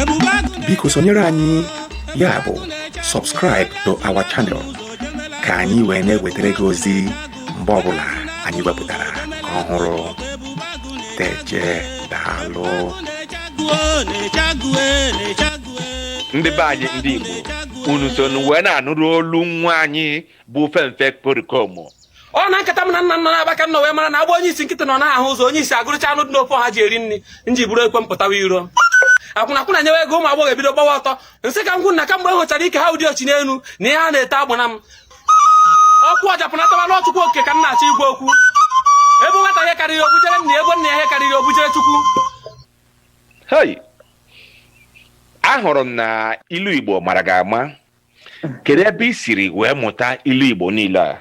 ebube agụ na-eche biko sonyere anyị ya bụ subscribe to our channel ka anyị wee na-ewetara gị ozi mgbe ọbụla anyị wepụtara ọhụrụ teje daalụ ndị be anyị ndị igbo unu so wee na-anụrụ olu nwa anyị bụ fenfe perikomo ọ na nkata m na nna m na-akpa ka m nọ wee mara na agba onye isi nkịtị nọ na-ahụ ụzọ onye isi agụrụcha anụ dị n'ofe ha ji eri nri nji buru ekwe mpụtawa iro akwụna akwụna nyewe ego ụmụ agbọghọ ebido gbawa ọtọ nsị ka ngwụ na kamgbe m hụchara ike ha ụdị ochi n'elu na ihe a na-ete agbana m ọkụ ọjapụnatawa n'ọchụkwu oke ka m na-achọ igwe okwu ebe nwata ihe karịrị obujere nna ebe nna ihe karịrị obujere chukwu hei ahụrụ m na ilu igbo mara gị ama kedu ebe i siri wee mụta ilu igbo niile a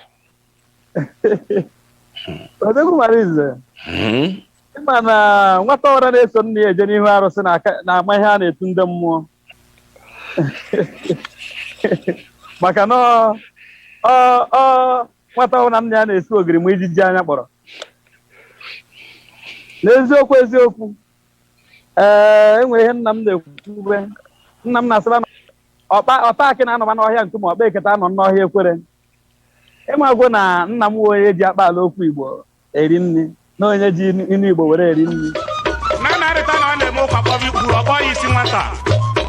odogwu mara ize Hmm? ịma na nwata ọra na-eso nna ya eje n'ihu arụsị na aka- na-ama ihe a na-etu ndị mmụọ maka na ọ- ọ- ọ- nwata ọwụrụ na nna ya na-esi ogiri ma ijiji anya kpọrọ n'eziokwu eziokwu ee enwere ihe nna m na-ekwube nna m na-asịba na ọkpa ọta akị na-anọba n'ọhịa nkume ọkpa eketa anọ n'ọhịa ekwere ịmagwo na nna m wụ onye ji akpaala okwu igbo eri nri na onye ji inu igbo were eri nri na narịta na ọ na-eme ụka kpọrọ ikpuru ọ kpọọ ya isi nwata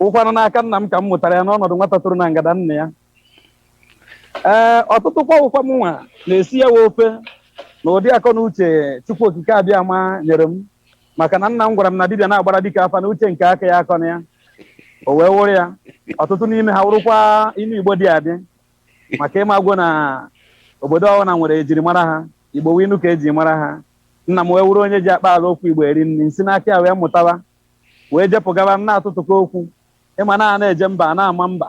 wụkwanụ n'aka nna m ka m mụtara ya n'ọnọdụ nwata toro na ngada nna ya ee ọtụtụ kwa wụkwa m nwa na-esi ya wa ofe na ụdị akọ na uche chukwu okike abịama nyere m maka na nna m gwara m na dibịa na-agbara dike afa na uche nke aka ya akọna ya o wee wụrụ ya ọtụtụ n'ime ha wụrụkwa inu igbo dị adị maka ịmagwo na obodo ọbụla nwere ejirimara ha igbo wụ inu ka eji mara ha nna m wee wụrụ onye ji akpaala okwu igbo eri nri si n'aka ya wee mụtaba wee jepụgaba na-atụtụkọ okwu ịma na a na-eje mba a na-ama mba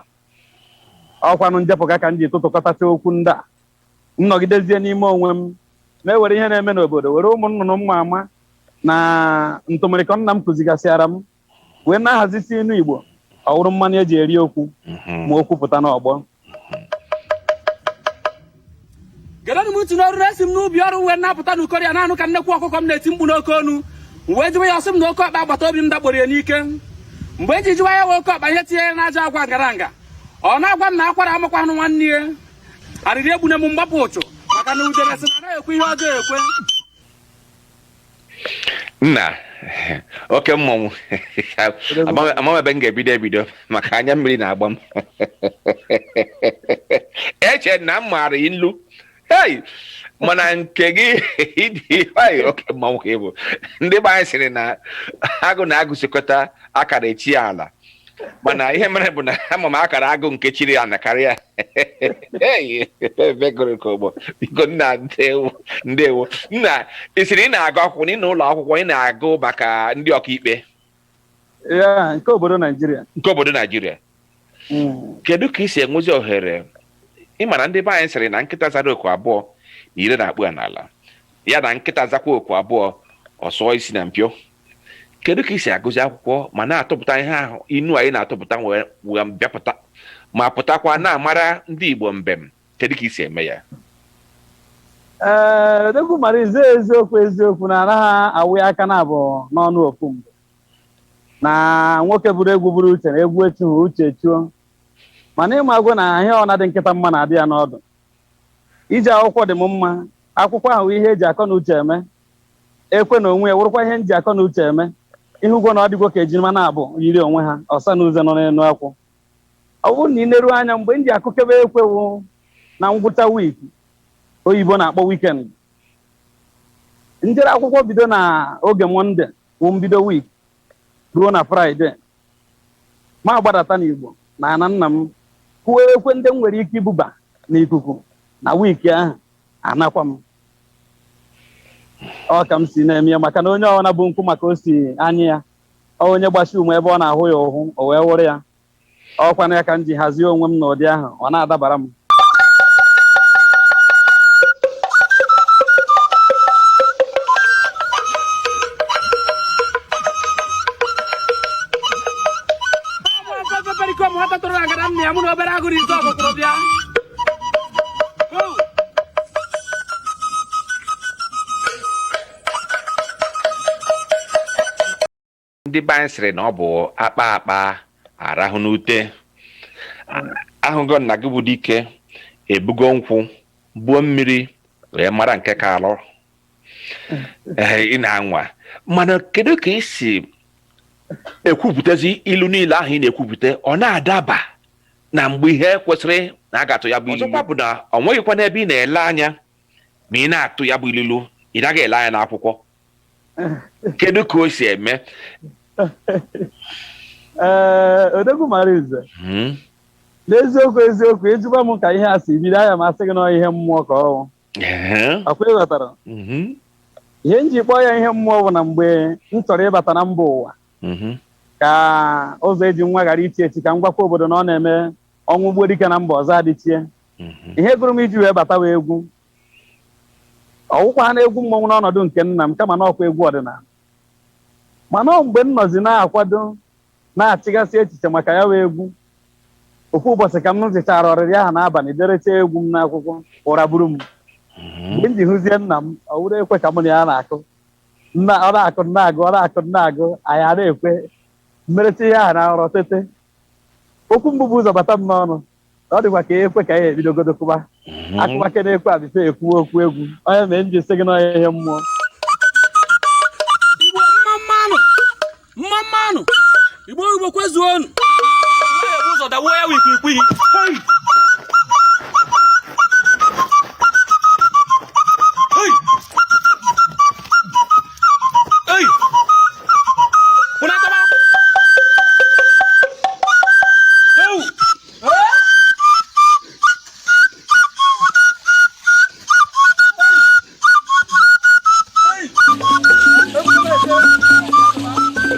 ọkwanụ njepụga ka m ji tụtụkọtacha okwu ndị a m nọgidezie n'ime onwe m mụ ewere ihe na-eme n'obodo were ụmụ nnụnụ m ma ama na ntụmịrịkọ nna m kụzigasịara m wee na-ahazisi inu igbo ọwụrụ mmanụ eji eri okwu ma okwu pụta n'ọgbọ gedonụ m ntị na o ruru esi m n'ubi ọrụ wee na-apụta n'ukori a na-anụ ka nnekwu ọkụkọ m na-eti mkpu n'oke onu wee jụwa ya ọsị m na oke ọkpa agbata obi m dakporo ya n'ike mgbe m ji jụwa ya wụ oke ọkpa ihe tinye ya n'ajọ agwa ngaranga ọ na-agwa m na akwara amakwa anụ nwanne ya arịrị egbune m mgbapụ ụchụ maka na udere sị na anaghị ekwe ihe ọjọọ ekwe nna oke mmọnwụ Amaghị- amaghị m ebe m ga-ebido ebido maka anya mmiri na-agba m eche m na m maara ilu hei mana nke gị dị hei oke mmọnwụ ka ị bụ ndị be anyị sịrị na agụ na agụ sikọta akara echie ala mana ihe mere bụ na ama m akara agụ nke chiri ana karịa Hey, ebe gụrụ ka ụgbọ biko nna ndewo ndewo nna ị sịrị ị na-agụ akwụkwọ na ị nọ ụlọ akwụkwọ ị na-agụ maka ndị ọkaikpe ya nke obodo naijiria nke obodo naijiria Mm. kedu ka i si enwezi ohere ị ma na ndị be anyị sịrị na nkịta zara oku abụọ na ire na-akpụ ya n'ala ya na nkịta zakwa oku abụọ ọ sụọ isi na mpio kedu ka i si agụzi akwụkwọ ma na-atụpụta ihe ahụ inu anyị na-atụpụta wee wee bịapụta ma pụtakwa na-amara ndị Igbo mbem kedu ka i si eme ya ee odogwu mara ezi eziokwu eziokwu na anaghị awụ ya aka naabọ n'ọnụ ofu mgbe na nwoke buru egwu buru uche na egwu echuhu uche chuo mana ị magwo na ihe ọ na-adị nkịta mma na-adị ya n'ọdụ ije akwụkwọ dị m mma akwụkwọ a wụ ihe eji akọ na uche eme Ekwe na onwe ya wụrụkwa ihe m ji akọ na uche eme. Ị hụgwo na ọ dịgwo ka ejima naabọ yiri onwe ha, ọsa na uze nọ n'elu akwụ. Ọ bụrụ na i neru anya, mgbe m ji akụkebe ekwe wụ na ngwụcha week oyibo na-akpọ weekend. M jere akwụkwọ bido na oge Mọnde wụ mbido week ruo na Fraịde. M agbadata n'Igbo na ana nna m, kụọ ekwe ndị m nwere ike ibuba n'ikuku na week ahụ. anakwa m ọ ka m si na-eme ya maka na onye ọbụla bu nkwụ ma ka o si anyị ya ọ onye gbasi ume ebe ọ na-ahụ ya ụhụ o wee wụrụ ya ọ kwanụ ya ka m ji hazie onwe m n'ụdị ahụ ọ na-adabara m Ọ bụ ọkụkọ Pericoma nwata tụrụ agada nna ya mụ na obere agụrụ ite ọkụkụrụ bịa ndị be anyị sịrị na ọ bụ akpaa akpaa arahụ n'ute ahụgo m na gị bụ dike ebugo nkwụ buo mmiri wee mara nke ka alụ Ee, ị na-anwa mana kedu ka i si ekwupụtazi ilu niile ahụ ị na-ekwupụta ọ na-adaba na mgbe ihe kwesịrị na a ga-atụ ya bụ ilulu ọzọkwa bụ na ọ nweghịkwa n'ebe ị na-ele anya ma ị na-atụ ya bụ ilulu ị naghị ele anya n'akwụkwọ kedu ka o si eme ee Odogwu Amalinze Hmm. n'eziokwu eziokwu ị jụba m ka ihe a si bido aga m asị gị na ihe mmụọ ka ọ wụ Ehe. akwa ị ghọtara Mhm. ihe m ji kpọọ ya ihe mmụọ bụ na mgbe m chọrọ ịbata na mba ụwa mhm. ka ụzọ eji nwa ghara ichi echi ka m gwakwa obodo na ọ na-eme ọnwụ gbuo dike na mba ọzọ adịchie mhm. ihe gụrụ m iji wee batawa egwu ọ wụkwa na egwu mmọnwụ n'ọnọdụ nke nna m kama na ọkwa egwu ọdịnala mana mgbe m nọzi na-akwado na-echegasị echiche maka ya wụ egwu ofu ụbọchị ka m zụchara ọrịrị ahụ n'abalị derecha egwu m n'akwụkwọ ụra buru m mgbe m ji hụzie nna m ọ wụrụ ekwe ka mụ na ya na-akụ nna ọ na-akụ m na-agụ ọ na-akụ m na-agụ anyị a na-ekwe m merecha ihe ahụ na nrọ tete okwu mbụ bu ụzọ bata m n'ọnụ na ọ dịkwa ka ekwe ka anyị ebidogodo kụba akụba ke na-ekwe abịfe ekwuwe okwu egwu ọ ya mee m ji sị gị na ọ ihe mmụọ mma mma nụ igbo igbo kwezuonu ụzọ dawuo ya wikwa ikwu ihe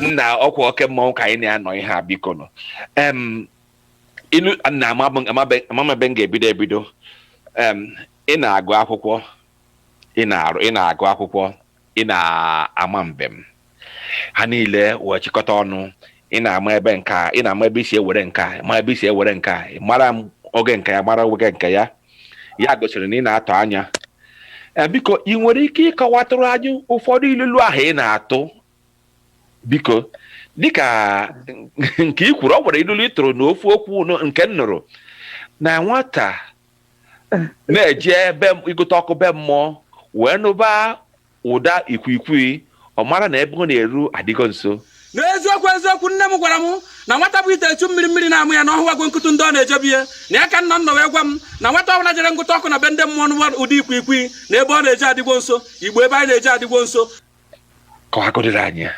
nna ọkwa oke mmanwụ ka anyị na ya nọ ihe a biko nụ em ilu na ịma mbem ga-ebido ebido em ị na-agụ akwụkwọ ị na-arụ ị na-agụ akwụkwọ ị na-ama mbem ha niile wee chịkọta ọnụ ị na-ama ebe nke a ị na-ama ebe i si ewere nke a ma ebe i si ewere nke a ị mara m oge nke ya mara oge nke ya ya gosiri na ị na-atụ anya Eh, biko ị nwere ike ịkọwatụrụ anyị ụfọdụ ilulu ahụ ị na-atụ biko dịka nke i kwuru ọ nwere ilulu ị tụrụ n'ofu okwu nụ- nke m nụrụ na nwata na-eje ebe ịgụte ọkụ be mmụọ wee nụba Ụda ikwikwii ọ mara na ebe ọ na-eru adịgo nso. N'eziokwu eziokwu, nne m gwara m na nwata bu ite echu mmiri mmiri na-amụ ya na ọ hụwago nkụtụ ndị ọ na-ejebu ihe na ya ka nna nna wee gwa m na nwata ọbụla jere ngụta ọkụ na be ndị mmụọ nụwa ụda ikwikwii na ebe ọ na-eje adịgwo nso igbo ebe anyị na-eje adịgwo nso Kọwagodịrị anyị ya.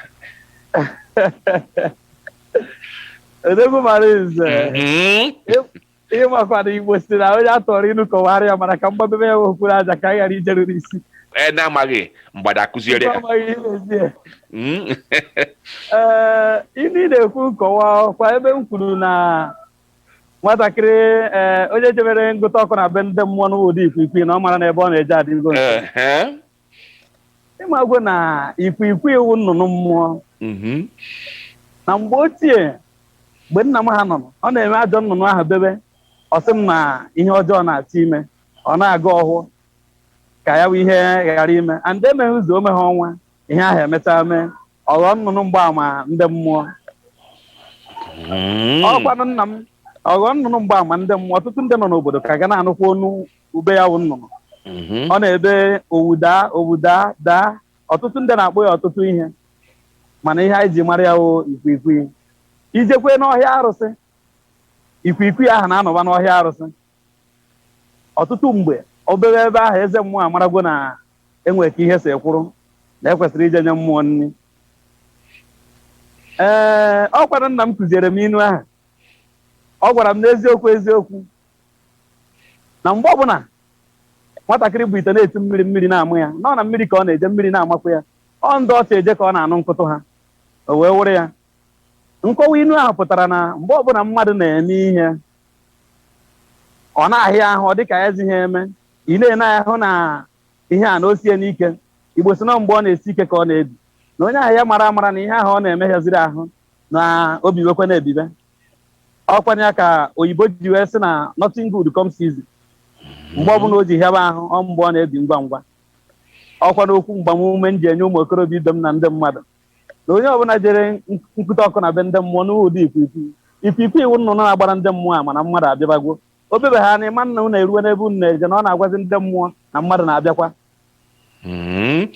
Odogwu Amalinze. Mhm. ị makwa na igbo si na onye a tụọrọ inu kọwara ya mana ka m gbabebe ya okpuru aja ka anyị ghara ijeruru isi e na-amaghị mgbada akụziere ya amaghị ihe na-ezi ya Mm. ee inu ị na-ekwu nkọwa kwa ebe m kwuru na nwatakịrị ee onye jebere ngụta ọkụ na be ndị mmụọ nụ ụda ikwikwii na ọ mara na ebe ọ na-eje adịgo nso. Ehe. ị magwo na ikwikwii wụ nnụnụ mmụọ Mhm. na mgbe ochie mgbe nna m ha nọ ọ na-eme ajọ nnụnụ ahụ bebe ọ sị m na ihe ọjọọ na-achọ ime ọ na-agọ ọhọ ka ya bụ ihe ghara ime and emeghị izu o meghị ọnwa ihe ahụ emechaa mee ọ ghọọ nnụnụ mgbaama ndị mmụọ Mm. ọkwanụ nna m ọ ghọọ nnụnụ mgbaama ndị mmụọ ọtụtụ ndị nọ n'obodo ka ga na-anụkwa onu ube ya wụ nnụnụ Mhm. ọ na-ebe owu daa owu daa daa ọtụtụ ndị na-akpọ ya ọtụtụ ihe mana ihe anyị ji mara ya wụ ikwikwii i jekwee n'ọhịa arụsị ikwikwii ahụ na-anọba n'ọhịa arụsị ọtụtụ mgbe o bee ebe ahụ eze mmụọ amaragwo na e nwere ka ihe si kwụrụ na ekwesịrị ije nye mmụọ nri ee ọ kwara nna m kụziere m inu ahụ ọ gwara m n'eziokwu eziokwu na mgbe ọbụla nwatakịrị bu ite na-echu mmiri mmiri na-ama ya nọ na mmiri ka ọ na-eje mmiri na-amakwa ya ọ ndị ọcha eje ka ọ na-anụ mkpọtụ ha o wee wụrụ ya nkọwa inu ahụ pụtara na mgbe ọbụla mmadụ na-eme ihe ọ na-ahịa ahụ ọ dịka ya ezighị eme ị na-ene ahụ na ihe a na o sie n'ike igbo si na mgbe ọ na-esi ike ka ọ na-ebi na onye ahụ ya mara amara na ihe ahụ ọ na-eme hịaziri ahụ na o biwekwe na-ebibe ọkwanụ ya ka oyibo ji wee sị na nothing good comes easy mgbe ọbụla o ji hịaba ahụ ọ mgbe ọ na-ebi ngwa ngwa ọkwanụ okwu mgbamume m ji enye ụmụ okorobịa ibe m na ndị mmadụ na onye ọbụla jere ngụte ọkụ na be ndị mmụọ nụ ụda ikwikwii ikwikwii wụ nnụnụ na-agbara ndị mmụọ ama na mmadụ abịabago O bebehanị ị ma na unu eruwe n'ebe unu na-eje na ọ na-agwazi ndị mmụọ na mmadụ na-abịakwa. Mm.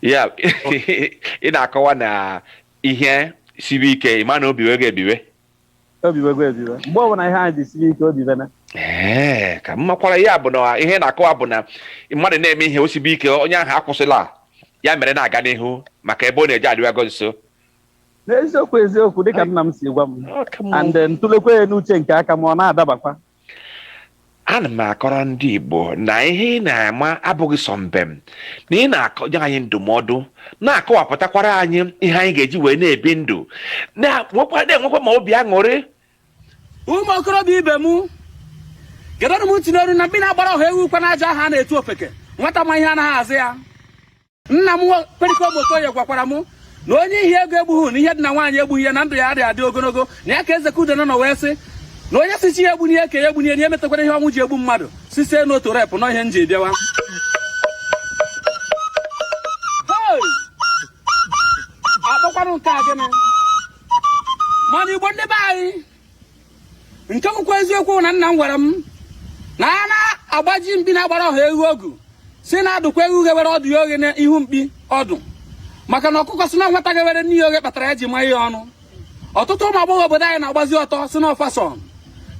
ya ị na-akọwa na ihe sibe ike ị ma na o biwego ebiwe O biwego ebiwe. Mgbe ọbụla ihe anyị ji sibe ike o bibene. ee ka m makwara ya bụ na ihe ị na-akọwa bụ na mmadụ na-eme ihe o sibe ike onye ahụ akwụsịla ya mere na-aga n'ihu maka ebe ọ na-eje adịwago nso n'eziokwu eziokwu dịka nna m si gwa m and m tụlekwa ya n'uche nke aka m ọ na-adabakwa ana m akọrọ ndị igbo na ihe ị na-ama abụghị sọ mbem na ị na-akọnye anyị ndụmọdụ na-akọwapụtakwara anyị ihe anyị ga-eji wee na-ebi ndụ na-enwekwa na-enwekwa ma obi aṅụrị ụmụ okorobịa ibe m gedọnụ m ntị n'oru na mmiri agbara ọha ewu kwa n'aja ahụ a na-etu ofeke nwata ma ihe anaghị azụ ya nna m Pericoma Okoye gwakwara m na onye ihe ego egbughị na ihe dị na nwaanyị egbughị ya na ndụ ya adịghị adị ogologo na ya ka eze ka udene nọ wee sị na onye sị chi ya egbuna ya ka ya egbuna ya na ya emetakwara ihe ọnwụ ji egbu mmadụ site n'otu rape nọ ihe m ji bịa ụwa Hey! akpọkwanụ nke a gịnị mana igbo ndị be anyị nke bụkwa eziokwu na nna m gwara m na a na-agbazi mkpi na-agbara ọha eghu ogu si na-adụkwa eghu ghewere ọdụ ya oghe n'ihu mkpi ọdụ maka na ọkụkọ si na nwata ghewere n'ihi oghe kpatara ya ji maa ya ọnụ ọtụtụ ụmụ agbọghọ obodo anyị na-agbazi ọtọ si na ọ fashion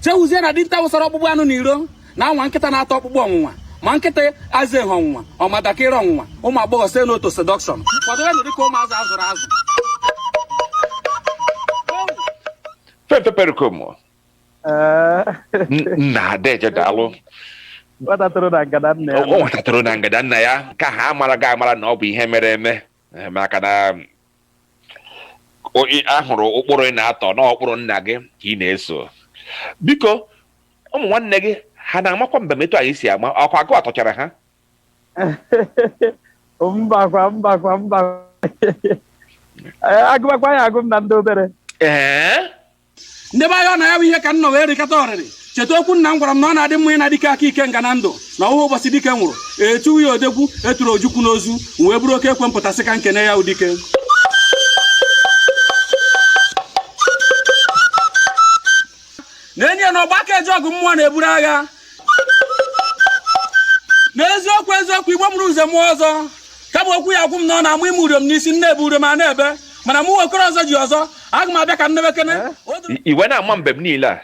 chewuzie na dinta wụsara ọkpụkpụ anụ na iro na-anwa nkịta na-ata ọkpụkpụ ọnwụnwa ma nkịta aza ehe ọnwụnwa ọ ma dakịrị ọnwụnwa ụmụ agbọghọ site n'otu seduction kwadoronụ dịka ụmụ azụ a zụrụ azụ Fenfe Pericoma Ee, n- nna deje daalụ nwata toro na ngada nna ya. ọ nwata toro na ngada nna ya ka ha amara gị amara na ọ bụ ihe mere eme Eh, maka na um, o- ị- a hụrụ ụkpụrụ ị na-atọ na ụkpụrụ nna gị ka ị na-eso biko ụmụ nwanne gị ha na-amakwa mbem etu anyị si ama ọkwa gụwa tọchara ha mbakwa mbakwa mbakwa a gụbakwa ya a gụọ m na ndị obere ee ndị be anyị ọ na ya bụ ihe ka m nọ wee rịkata ọrịrị cheta okwu nna m gwara m na ọ na-adị mma ịna dike aka ikenga na ndụ na ọ wụghị ụbọchị dike nwụrụ e tuwe ya odogwu e turu Ojukwu n'ozu wee buru oke ekwe m pụta sị ka m kene ya wụ dike na enyi ya na ọgba aka eje ọgụ mmụọ na-eburu agha n'eziokwu eziokwu Igbo mụrụ nze mụọ ọzọ kama okwu ya agwụ m na ọ na-amụ ime urom n'isi nne ebe urom a na-ebe mana mụ okoro ọzọ ji ọzọ aga m abịa ka nne bekene i wee na-ama mbem niile a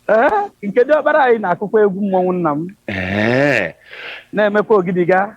ee nke diọkpara anyị na-akụkwa egwu mmọnwụ nna m Ee, na-emekwa ogidiga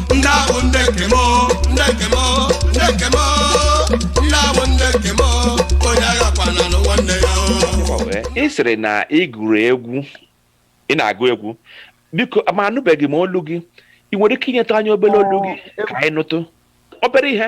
ndị ahụ ndị nke m ndị nke m ndị nke m ndị ahụ ndị nke m onye aghakwana nwanne ya ị sịrị na ị gụrụ egwu ị na-agụ egwu biko ma anụbeghị m olu gị ị nwere ike inyetụ anyị obere olu gị ka anyị nụtụ obere ihe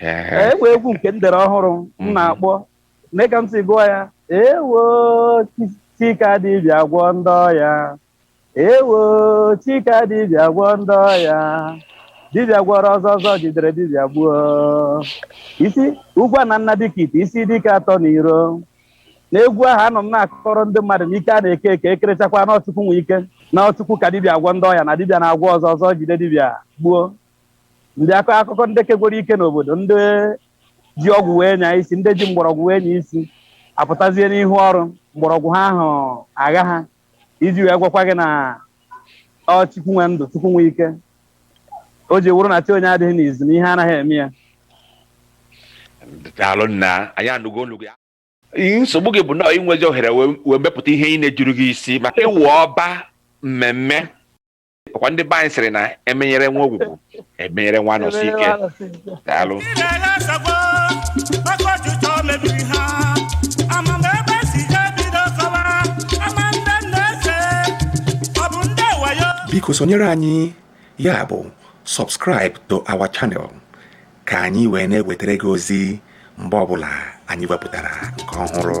Ee, e nwee egwu nke m dere ọhụrụ m Mhm. na-akpọ nee ka m si gụọ ya ewo chi- chi ka dibịa agwọ ndị ọya ewo chi ka dibịa agwọ ndị ọya dibịa gwọrọ ọzọ ọzọ jidere dibịa gbuo isi ugwu a na nna dịka ite isi dike atọ na iro n'egwu ahụ anọ m na-akọrọ ndị mmadụ na ike a na-eke eke ekerechakwa na ọ Chukwu nwe ike na ọ Chukwu ka dibịa agwọ ndị ọya na dibịa na-agwọ ọzọ ọzọ jide dibịa gbuo ndị akọ akụkọ ndị kegwuru ike n'obodo ndị ji ọgwụ wee nya isi ndị ji mgbọrọgwụ wee nya isi apụtazie n'ihu ọrụ mgbọrọgwụ ha ahụ agha ha iji wee gwakwa gị na ọ chukwu nwe ndụ chukwu nwe ike o ji wụrụ na chi onye adịghị n'izu na ihe anaghị eme ya daalụ nna anyị anụgo olu gị nsogbu gị bụ na i nwezi ohere wee mepụta ihe ị na-ejuru gị isi maka ịwụ ọba mmemme ọkwa ndị be anyị sịrị na emenyere nwa Ogwugwu emenyere nwa Anọsike daalụ biko sonyere anyị ya bụ subscribe to our channel ka anyị wee na-ewetara gị ozi mgbe ọbụla anyị wepụtara nke ọhụrụ